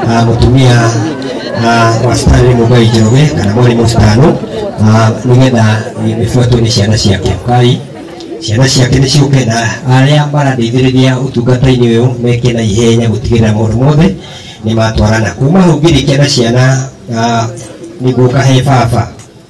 ah, mũtumia ah, wa citani mũgai njoroge kana mwarimũ citano ah, nĩgetha mĩbuatwo nĩ ciana ciake kai ciana ciake nĩ ciũke na arĩa marandeithĩrĩria ũtungata-inĩ ũyũ meke na ihenya gũtigĩrĩra maũndũ mothe nĩ matwarana kuma hau ngĩrĩkia na ciana ah, nĩguo kahe baba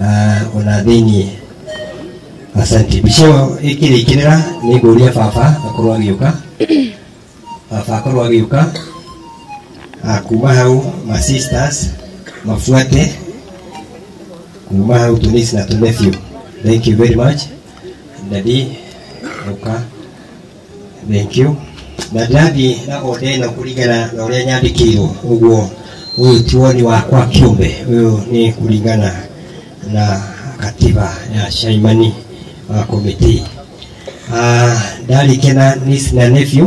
Ah, ona thĩinĩ asante mbica ĩyo ĩkĩrĩkĩrĩra nĩ ngũria baba akorwo agĩũka baba akorwo agĩũka Ah, kuma hau ma sisters mabuate kuma hau tunisi na tunefio thank you very much dadi ũka Thank you. Na ndathiĩ na onde ĩno kũringana na ũrĩa nyandĩkĩirwo ũguo ũyũ ti woni wakwa kĩũmbe ũyũ nĩ kũringana na katiba ya Shaimani wa komiti Ah, ndarĩkia na niece na nephew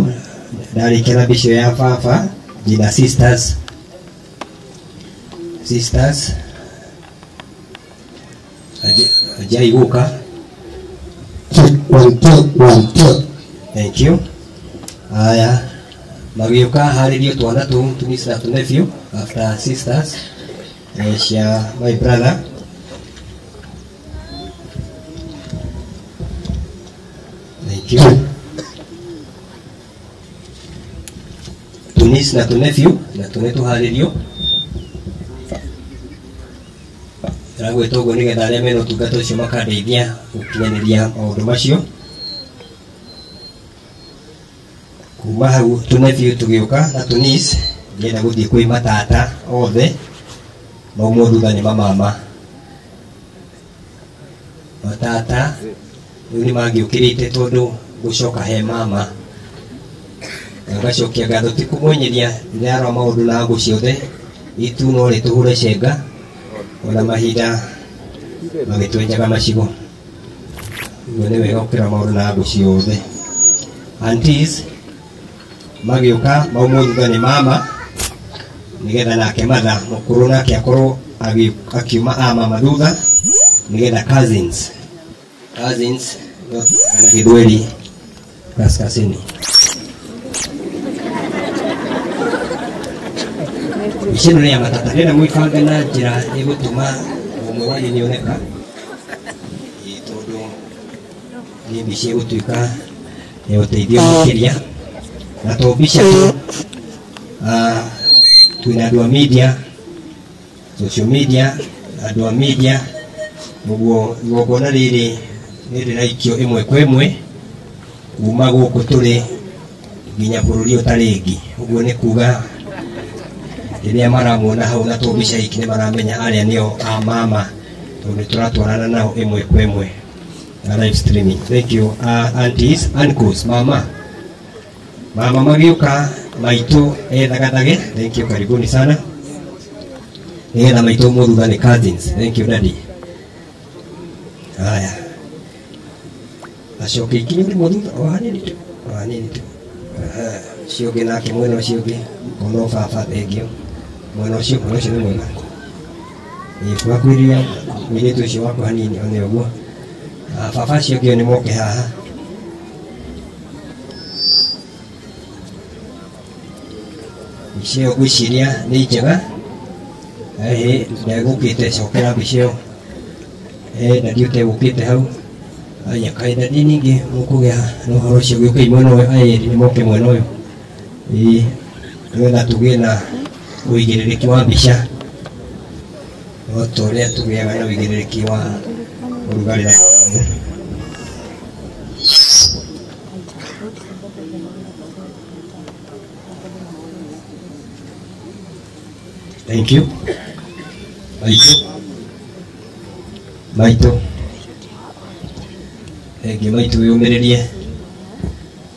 ndarĩkia na mbicio ya baba njina sisters sisters ajai guka one two one two thank you haya magĩũka harĩrie twana tũ tumisi na tũnebio after sisters eh, cia my brother thank you tũnis na tũnebyu na tũne tũharĩrio ĩragwĩtwo ũguo nĩgetha arĩa mena ũtungata ũcio makandeithia gũkinyanĩria maũndũ macio kuma hau tũnebyu tũgĩũka na tũnis nĩgetha gũthiĩ kwĩ matata othe maumwo thutha nĩ mamama matata rĩu nĩ mangĩũkĩrĩte tondũ gũcoka he mama na ngacokia ngatho ti kũmwenyeria ndĩrarora maũndũ na ngũ ciothe itu no rĩ tũhũre cenga ona mahinda magĩtwenjaga macigo guo nĩ wega gũkĩra maũndũ na ngũ ciothe Aunties, magĩũka maumwo thutha nĩ mama nĩgetha nake matha mũkũrũ nake akorwo agĩ- akiuma a mama thutha nĩgetha cousins cousins ndio tunaita na gĩthweri kaskazini mbica ĩno nĩ ya matata nĩenda mwĩbange na njĩra ĩgũtũma ũmwe wanyu nĩoneka Nĩmbicie gũtuĩka nĩ ũteithio makĩria na to mbica tu ah, twĩna andũ a media social media andũ a media ũguo igongona rĩrĩ nĩ rĩraikio ĩmwe kwa ĩmwe kuma gũkũ tũrĩ nginya bũrũri ũtarĩ ĩngĩ ũguo nĩ kuga rĩrĩa maramuona hau na to mbica iki nĩ maramenya arĩa nĩo a mama tondũ nĩ tũratwarana nao ĩmwe kwa ĩmwe na live streaming thank you uh, aunties uncles mama mama magĩũka maitũ ethagathage thank you karibuni sana nĩgetha maitũ mũthutha nĩ cousins thank you daddy haya acoke ikinye nĩ mũthutha o hanini tu o hanini tu Aha, ũcio ũngĩ nake mwena ũcio ũngĩ mũno baba thengiũ mwena ũcio mwena ũcio nĩ mwega twakwirire mũirĩtu ũcio waku hanini one ũguo Ah, baba acio ngĩo nĩ moke haha mbica ĩyo ngwĩciria nĩ njega ĩhĩ ndegũkĩte cokera mbica ĩyo Eh, ndadi ũtegũkĩte hau aya kaĩ ndadi ningĩ mũkũgĩa na ũhoro ũcio gĩũkai mwena ũyũ ayeri nĩ moke mwena ũyũ ĩĩ nĩgetha tũgĩe na ũigĩrĩrĩki wa mbica o ta ũrĩa tũgĩaga na ũigĩrĩrĩki wa ũrugarĩ na Thank you. Maitũ. Maitũ. Thank you, maitũ wĩyũmĩrĩrie.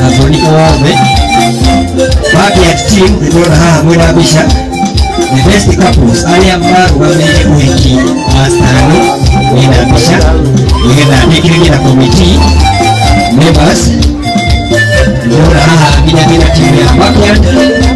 na thoni othe Bagiat team nĩtwona haha mwĩna mbica the best couples arĩa marũgamĩire ũhiki wa stani mwĩna mbica nĩgetha ndĩkĩrĩrie na committee members nĩtwona haha nginya nginya timu ya Bagiat